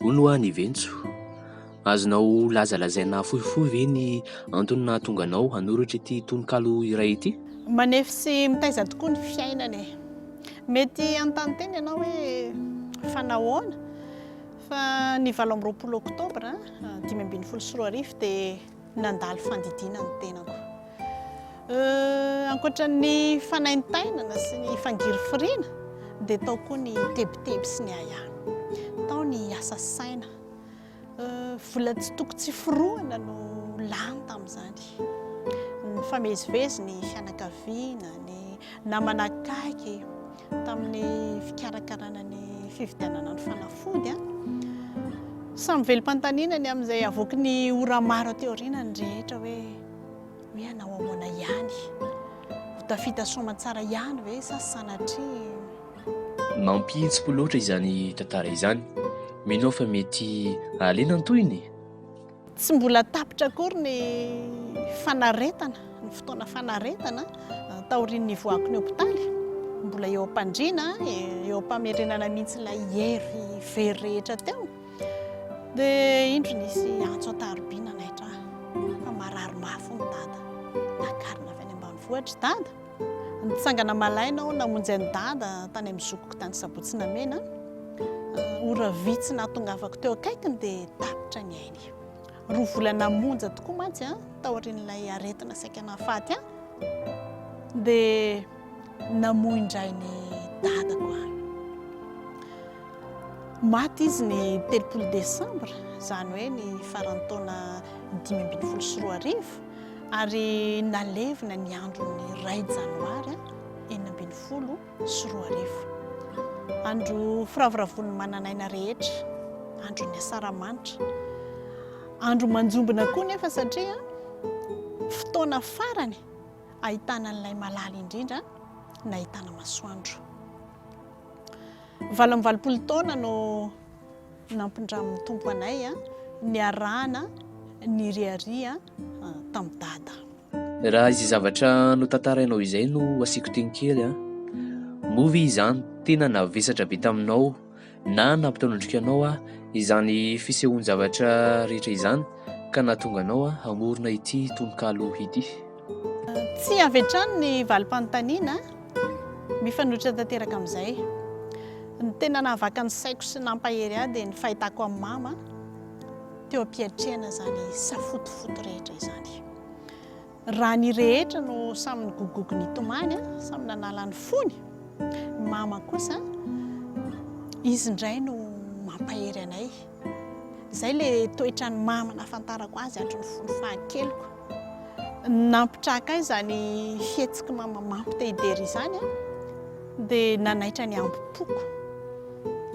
Hono ho'a ny Ventso, azonao lazalazaina fohifohy ve ny antony nahatonga anao hanoratra ity tononkalo iray ity? Manefy sy mitaiza tokoa ny fiainana e. Mety hanontany tena ianao hoe fa nahoana? Fa ny valo amby roapolo oktobra dimy ambin'ny folo sy roa arivo dia Nandalo fandidiana ny tenako. Euh, ankoatra ny fanaintainana sy ny fangirifiriana, dia tao koa ny tebiteby sy ny ahiahy. Tao ny asa saina. Euh, vola tsy toko tsy forohana no lany tamin'izany. Nifamezivezy ny fianakaviana, ny namana akaiky. tamin'ny fikarakarana ny fividianana ny fanafody. Samy velom-panontaniana ny amin'izay avoaky ny ora maro aty aoriana ny rehetra hoe hoe hanao ahoana ihany. Ho tafita soamantsara ihany ve sa sanatria? Mampihitsi-po loatra izany tantara izany. Mino aho fa mety hahaliana ny tohiny e! Tsy mbola tapitra akory ny fanaretana, ny fotoana fanaretana taorian'ny nivoahako ny hopitaly. Mbola eo am-pandriana, eo am-pamerenana mihitsy ilay hery very rehetra teo. Dia indro nisy antso an-tarobiana naitra ahy fa marary mafy hono dada. Nakarina avy any ambanivohitra i dada. Nitsangana malaina aho namonjy an'i Dada tany amin'ny zokiko tany Sabotsinamena. Ora vitsy nahatongavako teo akaikiny dia tapitra ny ainy. Roa volana monja tokoa mantsy taorian'ilay aretina saika nahafaty ahy dia namoy indray ny Dadako ahy. Maty izy ny telopolo desambra, izany hoe ny faran'ny taona dimy ambin'ny folo sy roa arivo. ary nalevina ny andron'ny iray janoary enina ambin'ny folo sy roa arivo. Andro firavoravoan'ny manan'aina rehetra, andron'ny asaramanitra. Andro manjombona koa nefa satria fotoana farany ahitana an'ilay malala indrindra nahitana masoandro. Valo amby valopolo taona no nampindramin'ny Tompo anay niarahana niriaria tamin'i dada. Raha izay zavatra notantarainao izay no asiako teny kely an! Moa ve izany tena navesatra be taminao na nampitanondrika anao an izany fisehoan-javatra rehetra izany ka nahatonga anao an hamorona ity tononkalo ity? Tsy avy hatrany ny valim-panontaniana mifanohitra tanteraka amin'izay. Ny tena nahavaka ny saiko sy nampahery ahy dia ny fahitako an'i Mama. teo am-piatrehana izany safotofoto rehetra izany. Raha ny rehetra no samy nigogogo nitomany, samy nanala ny fony, ny mama kosa, izy indray no mampahery anay. Izay le toetra ny mama nafantarako azy hatry ny fony fahakeliko. Nampitraka ahy izany fihetsiky mama mampitehidera izany, dia nanaitra ny ambom-poko.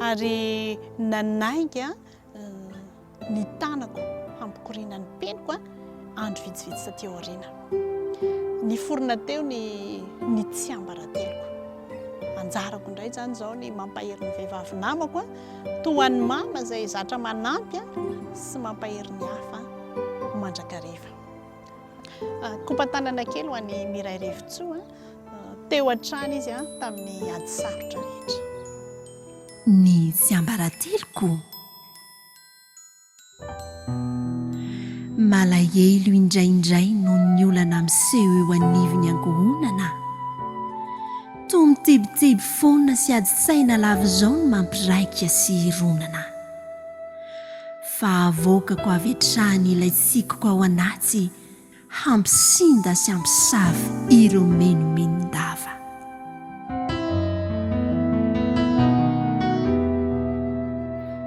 Ary nanainga ny tanako hampikoriana ny peniko andro vitsivitsy taty aoriana. Niforona teo ny ny tsiambarateloko. Anjarako indray izany izao ny mampahery ny vehivavy namako toa an'i mama izay zatra manampy sy mampahery ny hafa mandrakariva. Ah, Kopantanana kely ho an'i Miray Revitsoa, teo hatrany izy tamin'ny ady sarotra rehetra. Ny tsiambarateloko. Malahelo indraindray noho ny olana miseho eo anivon'ny ankohonana. Toa mitebiteby foana sy adin-tsaina lavizao ny mampiraika sy hironana. Fa avoakako avy hatrany ilay tsikoko ao anaty. Hampisinda sy hampisava ireo menomenon-dava.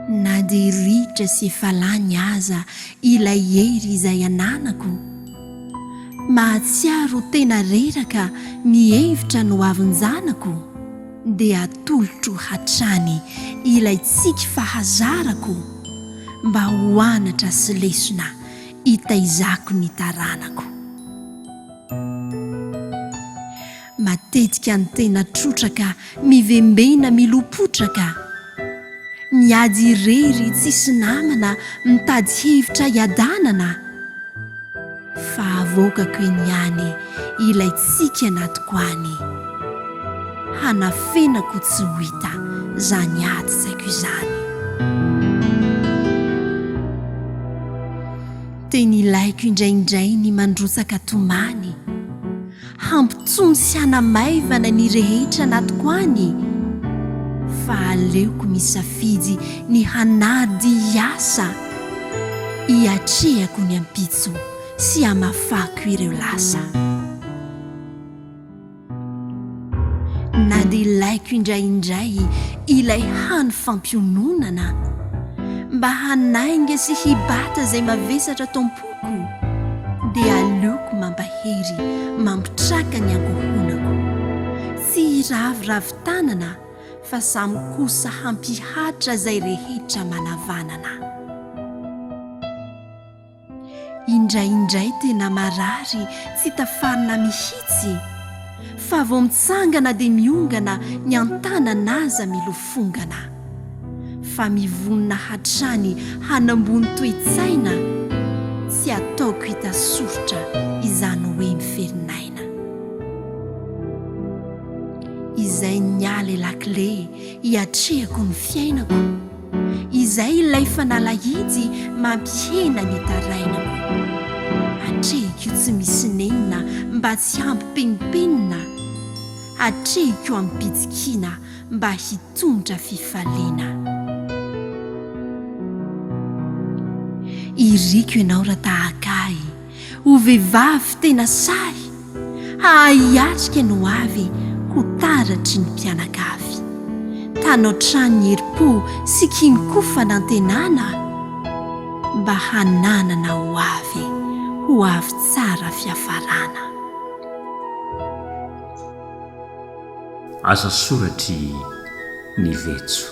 Na dia ritra sy efa lany aza ilay hery izay ananako, mahatsiaro ho tena reraka ny hevitra nohavinjanako, dia atolotro hatrany ilay tsiky fahazarako mba ho anatra sy lesona hitaizako ny taranako. Matetika ny tena trotraka mivembena milopotraka, miady irery tsisy namana mitady hevitra hiadanana, fa avoakako eny ihany ilay tsiky anatiko any. Hanafenako tsy ho hita zany ady tsaiko izany. Teny ilaiko indraindray ny mandrotsaka tomany, hampitony sy hanamaivana ny rehetra anatiko any, fa aleoko misafidy ny hanady hiasa, hiatrehako ny ampitso sy hamafako ireo lasa. Na dia ilaiko indraindray ilay hany fampiononana mba hanainga sy hibata izay mavesatra ato am-poko dia aleoko mampahery mampitraka ny ankohonako. Tsy hiraviravy tanana fa samy kosa hampihatra izay rehetra manavanana. Indraindray tena marary tsy tafarina mihitsy fa vao mitsangana dia miongana ny an-tanana aza milofongana fa mivonona hatrany hanambony toe-tsaina tsy ataoko hita soritra izany hoe miferin izay niala i lakile hiatrehako ny fiainako. Izay ilay fanalahidy mampihena ny tarainako. Atrehiko io tsy misy nenina mba tsy hampipenimpenina, atrehiko amim-pitsikiana mba hitondra fifaliana. Iriko ianao raha tahaka ahy. Ho vehivavy tena sahy, hahay hiatrika ny ho avy ho taratry ny mpianakavy. Tano hatrany ny herim-po sy kinon-ko fanantenana mba hananana ho avy ho avy tsara fiafarana. Asa soratry ny vetso.